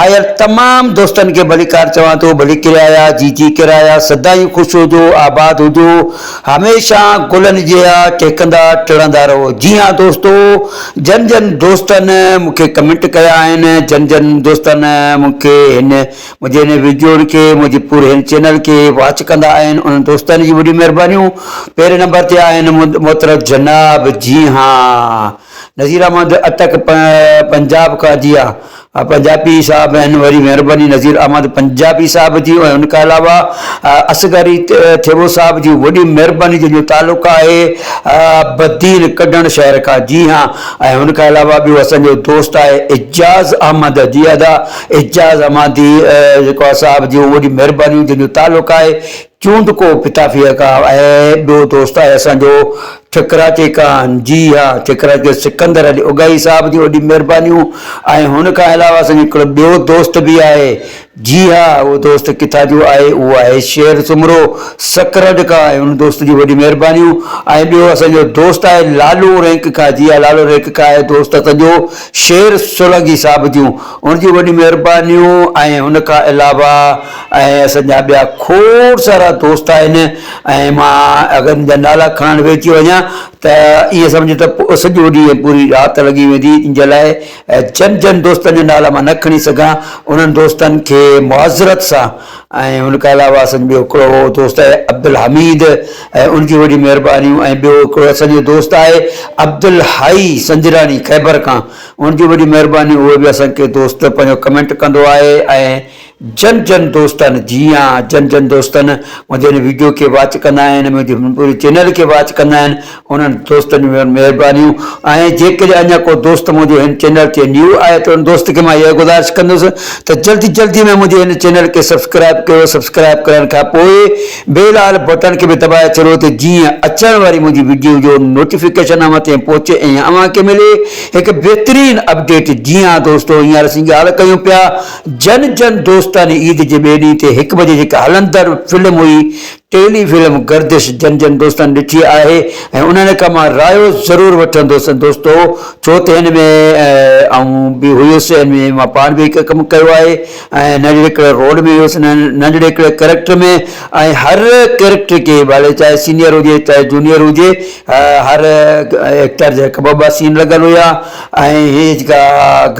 آيل تمام دوستن کي ڀليڪار چوان ٿو، ڀلي ڪرايا جي جي ڪرايا، سدائين خوش هجو، آباد هجو، هميشه گلن جيئا ٽهڪندا ٽڙندا رهو. جي هان دوستو، جن جن دوستن مون کي ڪمينٽ ڪيا آهن، جن جن دوستن مون کي هن منهنجي هن ويڊيون کي، منهنجي پوري هن چينل کي واچ ڪندا آهن، انهن دوستن جي وڏي مهربانيون پهرين نمبر تي آهن محترم جناب جي هان. نذير احمد اٽڪ پنجاب کا ديا پنجابي صاحب ھن وري مھرباني نذير احمد پنجابي صاحب جي ۽ ان کان علاوه اصغر ٿيٻو صاحب جي وڏي مھرباني جن جو تعلق آھي بدين ڪڏڻ شھر کان جي ھان ۽ ان کان علاوه ٻيو اسان جو دوست آھي اعجاز احمد جي ادا اعجاز احمدي جيڪو آھي صاحب جي وڏي مھرباني جن جو تعلق آھي چونڊ ڪو پتافي ھئ ڪا اي ٻيو دوست آھي اسان جو ٺڪراء چي ڪان جي ھا ٺڪراء جو سڪندر علي اگائي صاحب جون وڏيون مھربانيون ۽ ھن کان علاوه اسان جو ھڪڙو ٻيو دوست به آھي جي ھا اھو دوست ڪٿا جو آھي اھو آھي شير سومرو سڪرڊ ڪا ۽ ھن دوست جون وڏيون مھربانيون ۽ ٻيو اسان جو دوست آھي لالو رينڪ ڪا جي ھا لالو رينڪ ڪا اھي دوست اسان جو شير سولانگي صاحب جون ھن جون وڏيون مھربانيون ۽ ھن کان علاوه ۽ اسان جا ٻيا کوڙ سارا دوست آهن ۽ مان اگر ان جا نالا کڻڻ ويهجي وڃان ته ائين سمجهه ته سڄو ڏينهن پوري رات لڳي ويندي ان جي لاء جن جن دوستن جا نالا مان نه کڻي سگهان انهن دوستن کي معذرت سان ۽ ان کان علاوه اسان جو ٻيو هڪڙو دوست آهي عبدالحميد ۽ ان جون وڏيون مهربانيون ۽ ٻيو هڪڙو اسان جو دوست آهي عبدالحائي سنجراڻي خيبر کان ان جون وڏيون مهربانيون اهو به اسان کي دوست پنهنجو ڪمينٽ ڪندو آهي ۽ جن جن دوستن جي ها جن جن دوستن منهنجي هن ويڊيو کي واچ ڪندا آهن منهنجي هن پوري چينل کي واچ ڪندا آهن انهن دوستن جون وڏيون مهربانيون ۽ جيڪڏهن اڃا ڪو دوست منهنجو هن چينل تي نيو آهي ته ان دوست کي مان اها گذارش ڪندس ته جلدي جلدي ۾ منهنجي هن چينل کي سبسڪرائب ڪيو سبسڪرائب ڪرڻ کان پوء بيل آل بٽڻ کي به دٻائي ڇڏو ته جيئن اچڻ واري منهنجي ويڊيو جو نوٽيفڪيشن اوهان تائين پهچي ۽ اوهان کي ملي هڪ بهترين اپڊيٽ جي ها دوستو هينئر اسين ڳالهه ڪيون پيا جن جن دوستاني عيد جي ٻئي ڏينهن تي هڪ بجي جيڪا هلندڙ فلم هئي ٽيلي فلم گردش جن جن دوستاني ڏٺي آهي ۽ انهن کان مان رايو ضرور وٺندس دوستو ڇو ته هن ۾ آئون به هيس هن ۾ مان پاڻ به هڪ ڪم ڪيو آهي ۽ ننڍڙي هڪڙي رول ۾ هيس ننڍڙي هڪڙي ڪريڪٽر ۾ ۽ هر ڪريڪٽر کي ڀلي چاهي سينيئر هجي چاهي جونيئر هجي هر ايڪٽر جا هڪ ٻه ٻه سين لڳل هيا ۽ هي جيڪا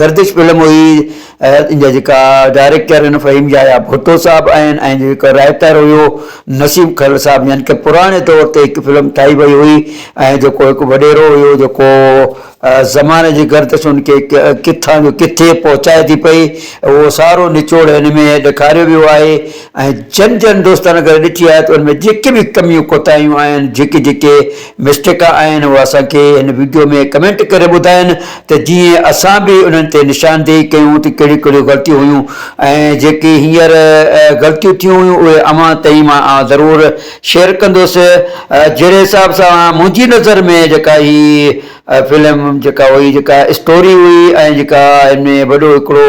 گردش فلم هئي ان جا جيڪا ڊائريڪٽر آهن فهيم يحيٰ ڀٽو صاحب آهن ۽ جيڪو رائيٽر هيو نسيم کهڙ صاحب يعني ڪه پراڻي طور تي هڪ فلم ٺاهي وئي هئي ۽ جيڪو هڪ وڏيرو هيو جيڪو زماني جي گردش ان کي ڪٿان جو ڪٿي پهچائي ٿي پئي اهو سارو نچوڙ هن ۾ ڏيکاريو ويو آهي ۽ جن جن دوستانه ڪري ڏٺي آهي ته ان ۾ جيڪي به ڪميون ڪوتاهيون آهن جيڪي جيڪي مسٽيڪا آهن اهو اسان کي هن وڊيو ۾ ڪمينٽ ڪري ٻڌائن ته جيئن اسان به انهن تي نشاندهي ڪيون ته ڪهڙيون ڪهڙيون غلطيون هيون ۽ جيڪي هينئر غلطيون ٿيون هيون اهي اوهان تائين مان آئون ضرور شيئر ڪندوس جهڙي حساب سان منهنجي نظر ۾ جيڪا هي اها فلم جيڪا هئي جيڪا اسٽوري هئي ۽ جيڪا ان ۾ وڏو هڪڙو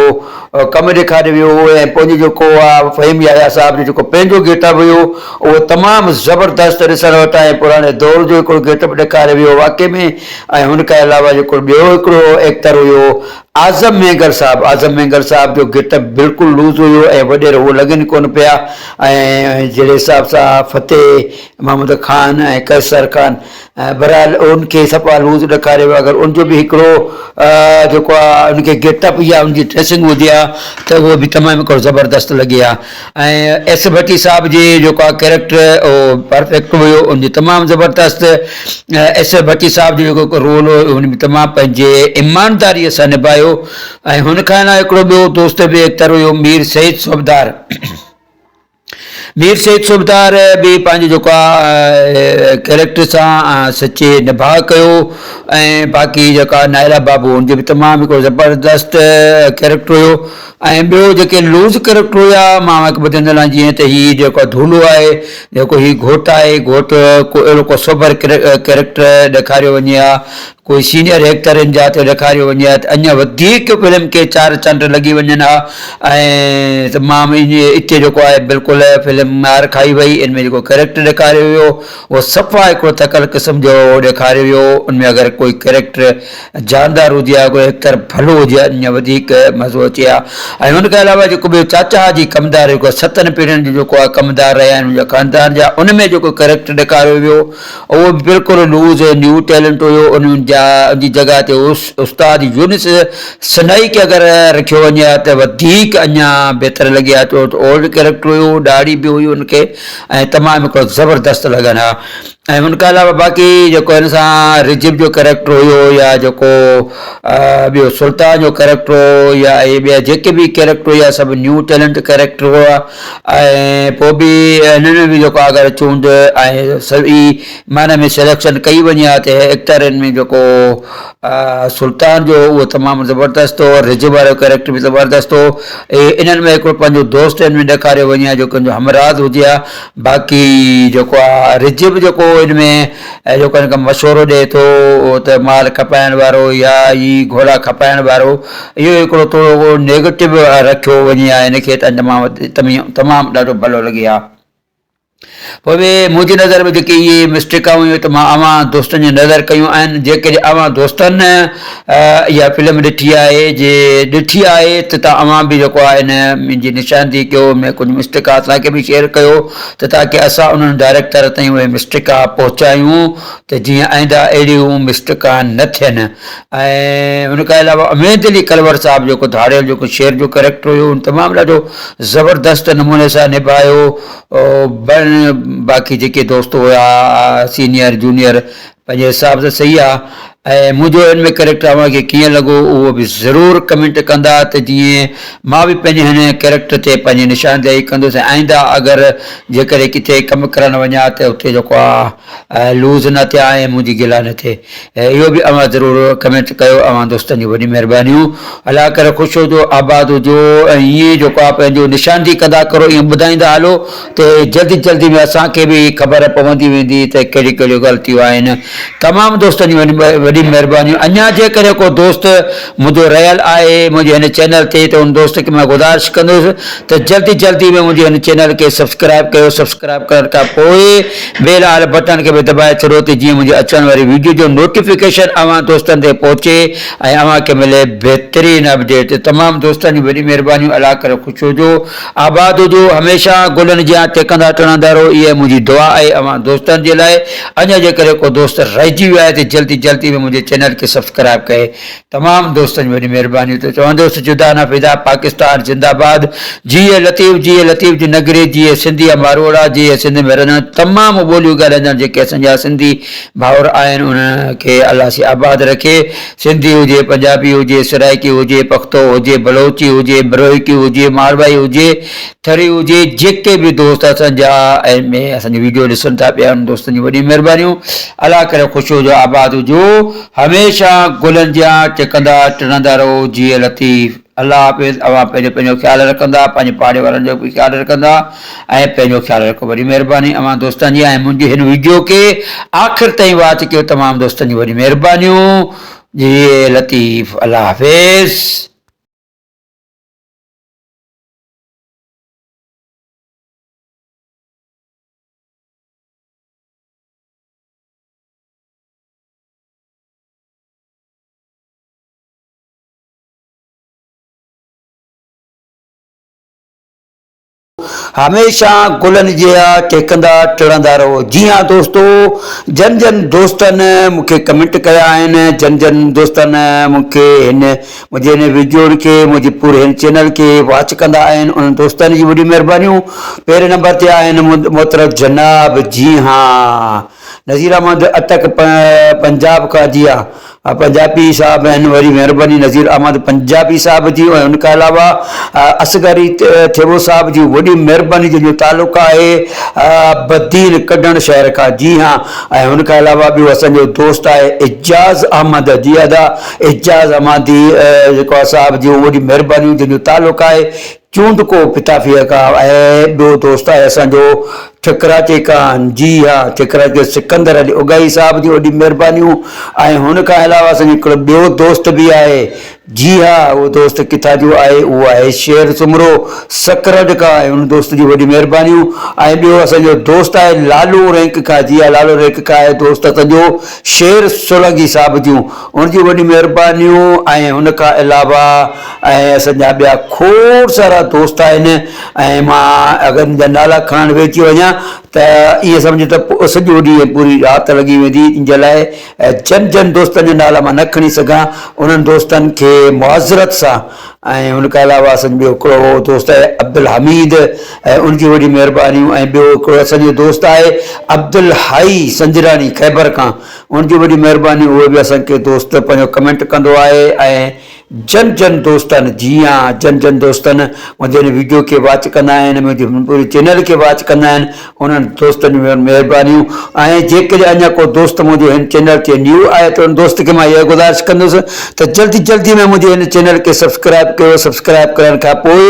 ڪم ڏيکاريو ويو هو ۽ پنهنجو جيڪو آ فهيم يحيٰ صاحب جو جيڪو پنهنجو گيٽ اپ هيو اهو تمام زبردست ڏسڻ وٽ ۽ پراڻي دور جو هڪڙو گيٽ اپ ڏيکاريو ويو واقعي ۾ ۽ هن کان علاوه جيڪو ٻيو هڪڙو ايڪٽر هيو اعظم مينگر صاحب اعظم مينگر صاحب جو گيٽ اپ بلڪل لوز هيو ۽ وڏير هو لڳن ئي ڪونه پيا ۽ جهڙي حساب سان فتح محمد خان ۽ قيصر خان بھرحال ان کي صفا لوز ڏيکاري ويو اگر ان جو به هڪڙو جيڪو آ ان کي گيٽ اپ يا ان جي ڊريسنگ هجي ها ته اهو به تمام هڪڙو زبردست لڳي ها ۽ ايس ڀٽي صاحب جي جيڪو آ ڪيريڪٽر اهو پرفيڪٽ هيو ان جي تمام زبردست ايس ڀٽي صاحب جو جيڪو رول هو ان ۾ تمام پنهنجي ايمانداري سان نبايو ۽ هن کان علاوه هڪڙو ٻيو دوست به ايڪٽر هيو مير سيد صوبدار مير سيد صوبدار به پنهنجي جوکا ڪيريڪٽر سان سچي نڀاء ڪيو ۽ باقي جيڪا نائرا بابو هن جو به تمام هڪڙو زبردست ڪيريڪٽر هيو ۽ ٻيو جيڪي لوز ڪيريڪٽر هيا مان اوهان کي ٻڌندو هلان جيئن ته هي جيڪو ڌولو آهي جيڪو هي گهوٽ آهي گهوٽ ڪو اهڙو ڪو سوڀر ڪيريڪٽر ڏيکاريو وڃي ها ڪوئي سينئر ايڪٽرن جا ته ڏيکاريو وڃي ها ته اڃا وڌيڪ فلم کي چار چنڊ لڳي وڃن ها ۽ تمام اتي جيڪو آهي بلڪل فلم مار کائي وئي ان ۾ جيڪو ڪيريڪٽر ڏيکاريو ويو اهو صفا هڪڙو ٿڪل قسم جو ڏيکاريو ويو ان ۾ اگر ڪوئي ڪيريڪٽر جاندار هجي ها ڪوئي ايڪٽر ڀلو هجي ها اڃا وڌيڪ مزو اچي ها ۽ ان کان علاوه جيڪو ٻيو چاچا جي ڪمدار جيڪو ستن پيڙهين جو جيڪو آهي ڪمدار رهيا آهن ان جا خاندان جا ان ۾ جيڪو ڪيريڪٽر ڏيکاريو ويو اهو به بلڪل لوز ۽ نيو ٽيلنٽ هيو، ان جي جڳهه تي استاد يونس سنائي کي اگر رکيو وڃي ها ته وڌيڪ اڃا بهتر لڳي ها ڇو ته اولڊ ڪيريڪٽر هيو، ڏاڙهي به هئي ان کي ۽ تمام هڪڙو زبردست لڳن ها ۽ ان کان علاوه باقي جيڪو هن سان رجب جو ڪيريڪٽر هيو يا جيڪو ٻيو سلطان جو ڪيريڪٽر هو يا اهي ٻيا جيڪي به ڪيريڪٽر هيا سڀ نيو ٽيلنٽ ڪيريڪٽر هئا. ۽ پوء به هنن ۾ به جيڪو آ اگر چونڊ ۽ صحيح معنيٰ ۾ سليڪشن ڪئي وڃي ها ته ايڪٽرين ۾ جيڪو سلطان جو هو اهو تمام زبردست هو ۽ رجب وارو ڪريڪٽر به زبردست هو اهي انهن ۾ هڪڙو پنهنجو دوست هن ۾ ڏيکاريو وڃي ها جيڪو ان جو همراز هجي ها باقي جيڪو آ رجب جيڪو ان ۾ جيڪو هن کي مشورو ڏئي ٿو ته مال کپائڻ وارو يا هي گهوڙا کپائڻ وارو اهو هڪڙو ٿورو نيگيٽو رکيو وڃي ها هن کي ته انجا مان تمام ڏاڍو ڀلو لڳي ها پوء به منهنجي نظر ۾ جيڪي اهي مسٽيڪون هيون ته مان اوهان دوستن جي نظر ڪيون آهن جيڪڏهن اوهان دوستن اها فلم ڏٺي آهي جي ڏٺي آهي ته تان اوهان به جيڪو آهي هن منهنجي نشاندهي ڪيو ۾ ڪجهه مسٽيڪا اسان کي به شيئر ڪيو ته تاڪي اسان انهن ڊائريڪٽر تائين اهي مسٽيڪا پهچايون ته جيئن آئنده اهڙيون مسٽيڪا نه ٿين ۽ ان کان علاوه اميد علي ڪلور صاحب جيڪو ڌاڙيل جيڪو شعر جو ڪريڪٽر هيو ان تمام ڏاڍو زبردست نموني سان نڀايو بن باقي جيڪي دوست هيا سينيئر جونيئر پنهنجي حساب سان صحيح آ ۽ منهنجو هن ۾ ڪريڪٽر اوهان کي ڪيئن لڳو اهو به ضرور ڪمينٽ ڪندا ته جيئن مان به پنهنجي هن ڪريڪٽر تي پنهنجي نشاندهي ڪندس ۽ آئنده اگر جيڪڏهن ڪٿي ڪم ڪرڻ وڃان ته اتي جيڪو آ لوز نه ٿيان ۽ منهنجي گلا نه ٿئي اهو به اوهان ضرور ڪمينٽ ڪيو اوهان دوستن جون وڏيون مهربانيون الله ڪري خوش هجو آباد هجو ۽ ائين جيڪو آ پنهنجو نشان جي قضا ڪرو ائين ٻڌائيندا هلو ته جلدي جلدي ۾ اسان کي به خبر پوندي ويندي ته ڪهڙيون ڪهڙيون غلطيون آهن تمام دوستن جون وڏيون مهربانيون اڃان جيڪڏهن ڪو دوست منهنجو رهيل آهي منهنجي هن چينل تي ته ان دوست کي مان گذارش ڪندس ته جلدي جلدي ۾ منهنجي هن چينل کي سبسڪرائب ڪيو سبسڪرائب ڪرڻ کان پوء بيل واري بٽڻ کي به دٻائي ڇڏو ته جيئن منهنجي اچڻ واري ويڊيو جو نوٽيفڪيشن اوهان دوستن تائين پهچي ۽ اوهان کي ملي بهترين اپڊيٽ تمام دوستن جون وڏيون مهربانيون الله ڪري خوش هجو آباد هجو هميشه گلن جيان ٽهڪندا ٽڻندا رهو اها منهنجي دعا آهي اوهان دوستن جي لاء اڃا جيڪڏهن ڪو دوست رهجي ويو آهي ته جلدي جلدي ۾ منهنجي چينل کي سبسڪرائب ڪري تمام دوستن جي وڏي مهرباني ته چوندس جدا نه فدا پاڪستان زنده باد جيئي لطيف جيئي لطيف جي نگري جيئي سنڌي ۽ ماروئڙا جيئي سنڌ ۾ رهندڙ تمام ٻوليون ڳالهائيندڙ جيڪي اسان جا سنڌي ڀائر آهن انهن کي الله سي آباد رکي سنڌي هجي پنجابي هجي سرائڪي هجي پختو هجي بلوچي هجي بروهيڪي هجي ماروائي هجي ٿري هجي جيڪي به دوست اسان جا آهن ۾ اسان جي ويڊيو ڏسن ٿا پيا انهن دوستن جون وڏيون مهربانيون الله ڪري خوش هجو آباد هجو. هميشه گلن جيان ٽڪندا ٽڙندا رهو جيء لطيف. الله حافظ اوهان پهريون پنهنجو خيال رکندا پنهنجي پاڙي وارن جو به خيال رکندا ۽ پنهنجو خيال رکو وڏي مهرباني اوهان دوستن جي ۽ منهنجي هن ويڊيو کي آخر تائين واچ ڪيو تمام دوستن جون وڏيون مهربانيون جيء لطيف الله حافظ. هميشه گلن جيا ٽهڪندا ٽڙندا رهو جي ها دوستو جن جن دوستن مون کي ڪمنٽ ڪيا آهن جن جن دوستن مون کي هن منهنجي هن ويڊيو کي منهنجي پوري هن چينل کي واچ ڪندا آهن انهن دوستن جي وڏي مهربانيون پهرين نمبر تي آهن محترم جناب جي ها نذير احمد اٽڪ پنجاب کا ديا پنجابي صاحب ۽ وري مهرباني نذير احمد پنجابي صاحب جي ۽ ان کان علاوه اصغر ٿيٻو صاحب جي وڏي مهرباني جن جو تعلق آهي بدين ڪڍڻ شهر کان جي ها ۽ ان کان علاوه ٻيو اسان جو دوست آهي اعجاز احمد جي ادا اعجاز احمدي جيڪو آهي صاحب جي وڏي مهرباني جن جو تعلق آهي چوند ڪو پتافيه ڪا اي ڏو دوست آهي اسان جو ٺڪرا چي ڪان جي ها ٺڪرا چي سڪندر علي اگائي صاحب جون وڏيون مهربانيون ۽ هن کان علاوه اسان جو هڪڙو ٻيو دوست به آهي جي ها اهو دوست ڪٿا جو آهي اهو آهي شعر سومرو سڪرڊ ڪا ۽ ان دوست جون وڏيون مهربانيون ۽ ٻيو اسان جو دوست آهي لالو رينڪ ڪا جي ها لالو رينڪ ڪا اي دوست اسان جو شعر سولانگي صاحب جون هن جون وڏيون مهربانيون ۽ ان کان علاوه اسان جا ٻيا کوڙ سارا دوست آهن ۽ مان اگر ان جا نالا کڻڻ ويهجي وڃان ته ائين سمجهه ته سڄو ڏينهن ۽ پوري رات لڳي ويندي ان جي لاء جن جن دوستن جا نالا مان نه کڻي سگهان انهن دوستن کي معذرت سان ۽ ان کان علاوه اسان جو ٻيو هڪڙو دوست آهي عبدالحميد ۽ ان جون وڏيون مهربانيون ۽ ٻيو هڪڙو اسان جو دوست آهي عبدالحئي سنجراڻي خيبر کان ان جي وڏي مهرباني اهو به اسان کي دوست پنهنجو ڪمينٽ ڪندو آهي ۽ جن جن دوستن جي ها جن جن دوستن منهنجي هن ويڊيو کي واچ ڪندا آهن منهنجي هن پوري چينل کي واچ ڪندا آهن انهن دوستن جون وڏيون مهربانيون ۽ جيڪڏهن اڃا ڪو دوست منهنجو هن چينل تي نيو آهي ته ان دوست کي مان اها گذارش ڪندس ته جلدي جلدي ۾ منهنجي هن چينل کي سبسڪرائب ڪيو سبسڪرائب ڪرڻ کان پوء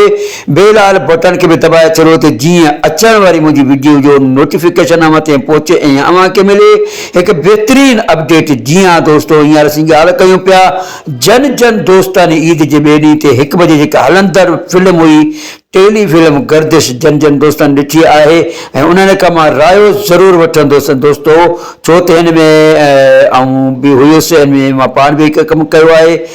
بيل آل بٽڻ کي به دٻائي ڇڏيو ته جيئن اچڻ واري منهنجي ويڊيو جو نوٽيفڪيشن اوهان تائين پهچي ۽ اوهان کي ملي هڪ بهترين اپڊيٽ جي ها دوستو هينئر اسين ڳالهه ڪيون پيا جن جن دوستن عيد جي ٻئي ڏينهن تي هڪ بجي جيڪا هلندڙ فلم هئي ٽيلي فلم گردش جن جن دوستن ڏٺي آهي ۽ انهن کان مان رايو ضرور وٺندس دوستو ڇو ته هن ۾ آئون به هيس هن ۾ مان پاڻ به هڪ ڪم ڪيو آهي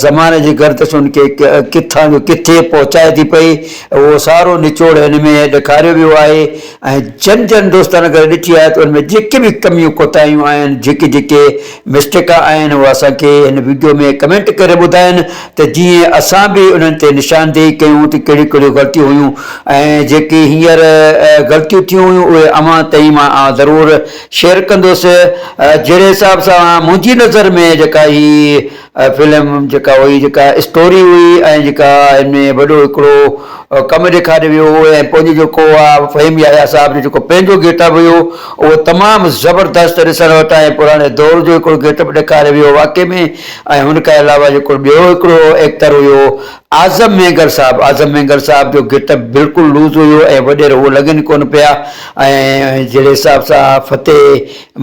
زماني جي گردش ان کي ڪٿان جو ڪٿي پهچائي ٿي پئي، اهو سارو نچوڙ هن ۾ ڏيکاريو ويو آهي ۽ جن جن دوستن اگر ڏٺي آهي ته ان ۾ جيڪي به ڪميون ڪوتاهيون آهن، جيڪي جيڪي مسٽيڪا آهن اهو اسان کي هن وڊيو ۾ ڪمينٽ ڪري ٻڌائن ته جيئن اسان به انهن تي نشاندهي ڪيون ته ڪهڙيون ڪهڙيون غلطيون هيون ۽ جيڪي هينئر غلطيون ٿيون هيون اهي اوهان تائين مان ضرور شيئر ڪندس جهڙي حساب سان منهنجي نظر ۾ جيڪا هي فلم جيڪا هئي جيڪا اسٽوري هئي ۽ جيڪا هن ۾ وڏو هڪڙو ڪم ڏيکاريو ويو هو ۽ پنهنجو جيڪو آ فهيم يحيٰ صاحب جو جيڪو پنهنجو گيٽ اپ هيو اهو تمام زبردست ڏسڻ وٽ ۽ پراڻي دور جو هڪڙو گيٽ اپ ڏيکاريو ويو واقعي ۾ ۽ هن کان علاوه جيڪو ٻيو هڪڙو ايڪٽر هيو اعظم مينگر صاحب، اعظم مينگر صاحب جو گيٽ اپ بلڪل لوز هيو ۽ وڏيرا هو لڳن ئي ڪونه پيا ۽ جهڙي حساب سان فتح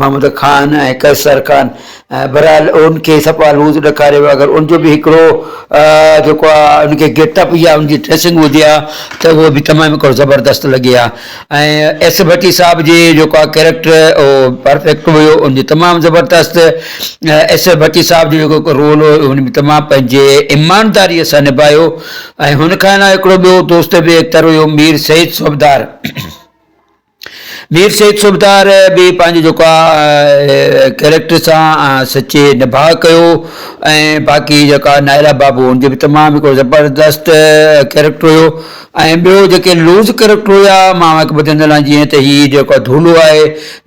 محمد خان ۽ قيصر خان بهرحال ان کي صفا لوز ڏيکاريو ويو اگر ان جو به هڪڙو جيڪو آ ان کي گيٽ اپ يا ان جي ڊريسنگ هجي ها ته هو به تمام هڪڙو زبردست لڳي ها. ۽ ايس اي ڀٽي صاحب جي جيڪو آ ڪيريڪٽر او پرفيڪٽ هيو ان جي تمام زبردست ايس اي ڀٽي صاحب جو جيڪو هڪ رول هو ان ۾ تمام پنهنجي ايمانداري سان نباهيو ۽ هن کان علاوه هڪڙو ٻيو دوست به ايڪٽر هيو مير سيد صوبدار مير سيد صوبدار به پنهنجو جيڪو آ ڪيريڪٽر سان سچي نباهه ڪيو ۽ باقي جيڪا نائرا بابو هن جو به تمام هڪڙو زبردست ڪيريڪٽر هيو ۽ ٻيو جيڪي لوز ڪريڪٽر هيا مان هڪ ٻڌي نه لاهي جيئن ته هي جيڪو ڍولو آهي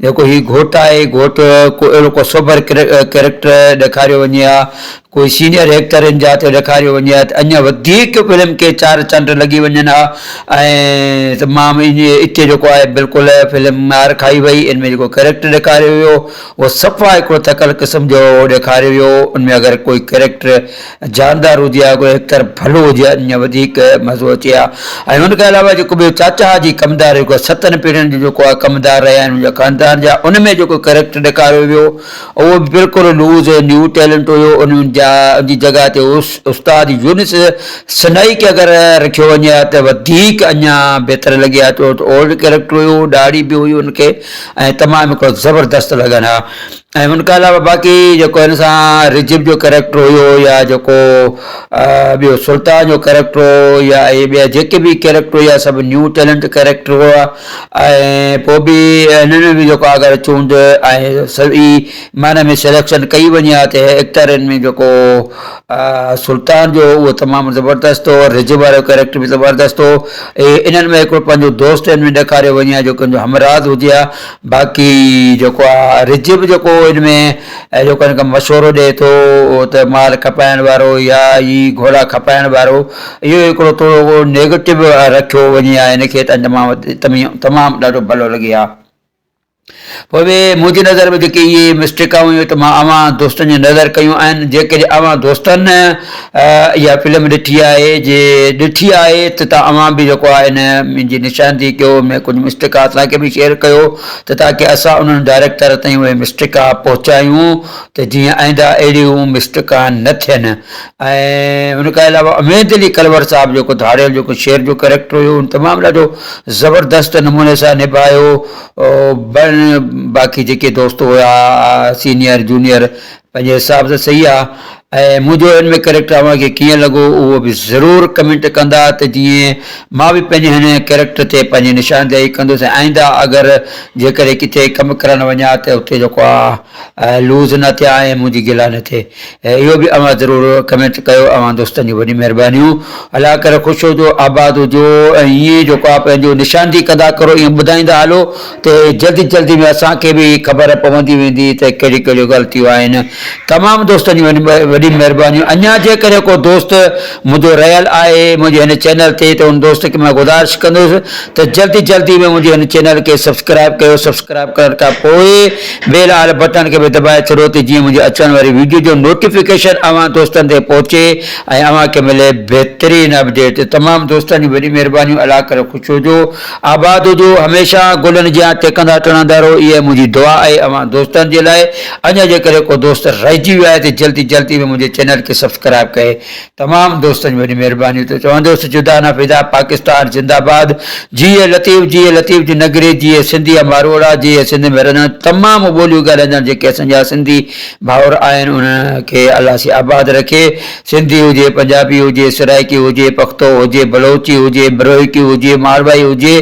جيڪو هي گهوٽ آهي گهوٽ ڪو اهڙو ڪو سوڀر ڪريڪٽر ڏيکاريو وڃي ها ڪوئي سينيئر ايڪٽرن جا ته ڏيکاريو وڃي ها ته اڃا وڌيڪ فلم کي چار چنڊ لڳي وڃن ها ۽ تمام اتي جيڪو آهي بلڪل فلم مار کائي وئي ان ۾ جيڪو ڪريڪٽر ڏيکاريو ويو اهو صفا هڪڙو ٿڪل قسم جو ڏيکاريو ويو ان ۾ اگر ڪوئي ڪريڪٽر جاندار هجي ها گويا هڪتر ڀلو هجي ها اڃ وڌيڪ مزو اچي ها ۽ ان کان علاوه جيڪو ٻيو چاچا جي ڪمدار هيو گويا ستن پيڙهين جو جيڪو آ ڪمدار رهيا آهن منهنجا خاندان جا ان ۾ جيڪو ڪريڪٽر ڏيکاريو ويو اهو به بلڪل لوز ۽ نيو ٽيلنٽ هيو ان جا ان جي جڳهه تي استاد يونس سنائي کي اگر رکيو وڃي ها ته وڌيڪ اڃا بهتر لڳي ها ڇو ته اولڊ ڪريڪٽر هيو ڏاڙهي به هئي ان کي ۽ تمام هڪڙو زبردست لڳن ها ۽ ان کان علاوه باقي جيڪو هن سان رجب جو ڪريڪٽر هيو يا جيڪو ٻيو سلطان جو ڪريڪٽر هو يا اهي ٻيا جيڪي به ڪريڪٽر هيا سڀ نيو ٽيلنٽ ڪريڪٽر هيا ۽ پوء به هنن ۾ به جيڪو اگر چونڊ ۽ صحيح معنيٰ ۾ سليڪشن ڪئي وڃي ها ته ايڪٽرن ۾ جيڪو سلطان جو اهو تمام زبردست هو رجب وارو ڪريڪٽر به زبردست هو انهن ۾ هڪڙو پنهنجو دوست هن ۾ ڏيکاريو وڃي ها جيڪو هن جو همراز هجي ها باقي جيڪو آ رجب به جيڪو ان ۾ جيڪو هن کي مشورو ڏئي ٿو ته مال کپائڻ وارو يا هي گهوڙا کپائڻ وارو اهو هڪڙو ٿورو نيگيٽو رکيو وڃي ها هن کي ته تمام تمام ڏاڍو ڀلو لڳي ها پوء به منهنجي نظر ۾ جيڪي اهي مسٽيڪا هيون ته مان اوهان دوستن جي نظر ڪيون آهن جيڪڏهن اوهان دوستن اها فلم ڏٺي آهي، جي ڏٺي آهي ته ته اوهان به جيڪو آهي نه منهنجي نشاندهي ڪيو ۾ ڪجهه مسٽيڪا اسان کي به شيئر ڪيو ته تاڪي اسان انهن ڊائريڪٽر تائين اهي مسٽيڪا پهچايون ته جيئن آئنده اهڙيون مسٽيڪا نه ٿين ۽ ان کان علاوه اميد علي ڪلور صاحب جيڪو ڌاڙيل جيڪو شير جو ڪريڪٽر هيو ان تمام ڏاڍو زبردست نموني سان نڀايو باقي جيڪي دوست هيا سينيئر جونيئر پنهنجي حساب سان صحيح آ ۽ منهنجو هن ۾ ڪريڪٽر اوهان کي ڪيئن لڳو اهو به ضرور ڪمينٽ ڪندا ته جيئن مان به پنهنجي هن ڪريڪٽر تي پنهنجي نشاندهي ڪندس ۽ آئنده اگر جيڪڏهن ڪٿي ڪم ڪرڻ وڃان ته اتي جيڪو آ لوز نه ٿيان ۽ منهنجي گلا نه ٿئي اهو به اوهان ضرور ڪمينٽ ڪيو اوهان دوستن جون وڏيون مهربانيون الله ڪري خوش هجو آباد هجو ۽ ائين جيڪو آ پنهنجو نشاندهي ڪندا ڪرو ائين ٻڌائيندا هلو تي جلدي جلدي ۾ اسان کي به خبر پوندي ويندي ته ڪهڙيون ڪهڙيون غلطيون آهن. تمام دوستن جون وڏيون مهربانيون. اڃا جيڪڏهن ڪو دوست منهنجو رهيل آهي منهنجي هن چينل تي ته ان دوست کي مان گذارش ڪندس ته جلدي جلدي ۾ منهنجي هن چينل کي سبسڪرائب ڪيو سبسڪرائب ڪرڻ کان پوء بيل آل بٽڻ کي به دٻائي ڇڏو ته جيئن منهنجي اچڻ واري ويڊيو جو نوٽيفڪيشن اوهان دوستن تي پهچي ۽ اوهان کي ملي بهترين اپڊيٽ. تمام دوستن جون وڏيون مهربانيون الله ڪري خوش هجو. آباد هجو هميشه گلن جيان ٽهڪندا ٽڙهندا رهو اها ئي منهنجي دعا آهي اوهان دوستن جي لاء اڃا جيڪڏهن ڪو دوست رهجي ويو آهي ته جلدي جلدي ۾ منهنجي چينل کي سبسڪرائب ڪري تمام دوستن جي وڏي مهرباني ٿو چوندوس جدا نه فدا پاڪستان زنده باد جيئي لطيف جيئي لطيف جي نگري جيئي سنڌي ۽ ماروئڙا جيئي سنڌ ۾ رهندڙ تمام ٻوليون ڳالهائيندڙ جيڪي اسان جا سنڌي ڀائر آهن انهن کي الله سي آباد رکي. سنڌي هجي، پنجابي هجي، سرائيڪي هجي، پختو هجي، بلوچي هجي، بروهيڪي هجي، ماروائي هجي،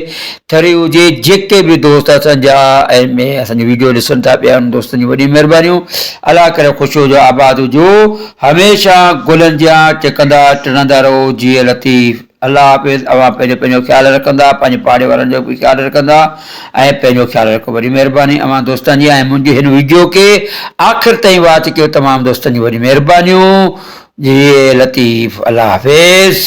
ٿري هجي، جيڪي به دوست اسان جا ۽ ۾ اسان جي وڊيو ڏسن ٿا پيا انهن دوستن جون وڏيون مهربانيون. الله ڪري خوش هجو آباد هجو هميشه گلن جيان ٽڪندا ٽڙندا رهو جيئي لطيف. الله حافظ اوهان پهريون پنهنجو خيال رکندا پنهنجي پاڙي وارن جو به خيال رکندا ۽ پنهنجو خيال رکو وڏي مهرباني اوهان دوستن جي ۽ منهنجي هن ويڊيو کي آخر تائين واچ ڪيو تمام دوستن جون وڏي مهربانيون جي لطيف الله حافظ.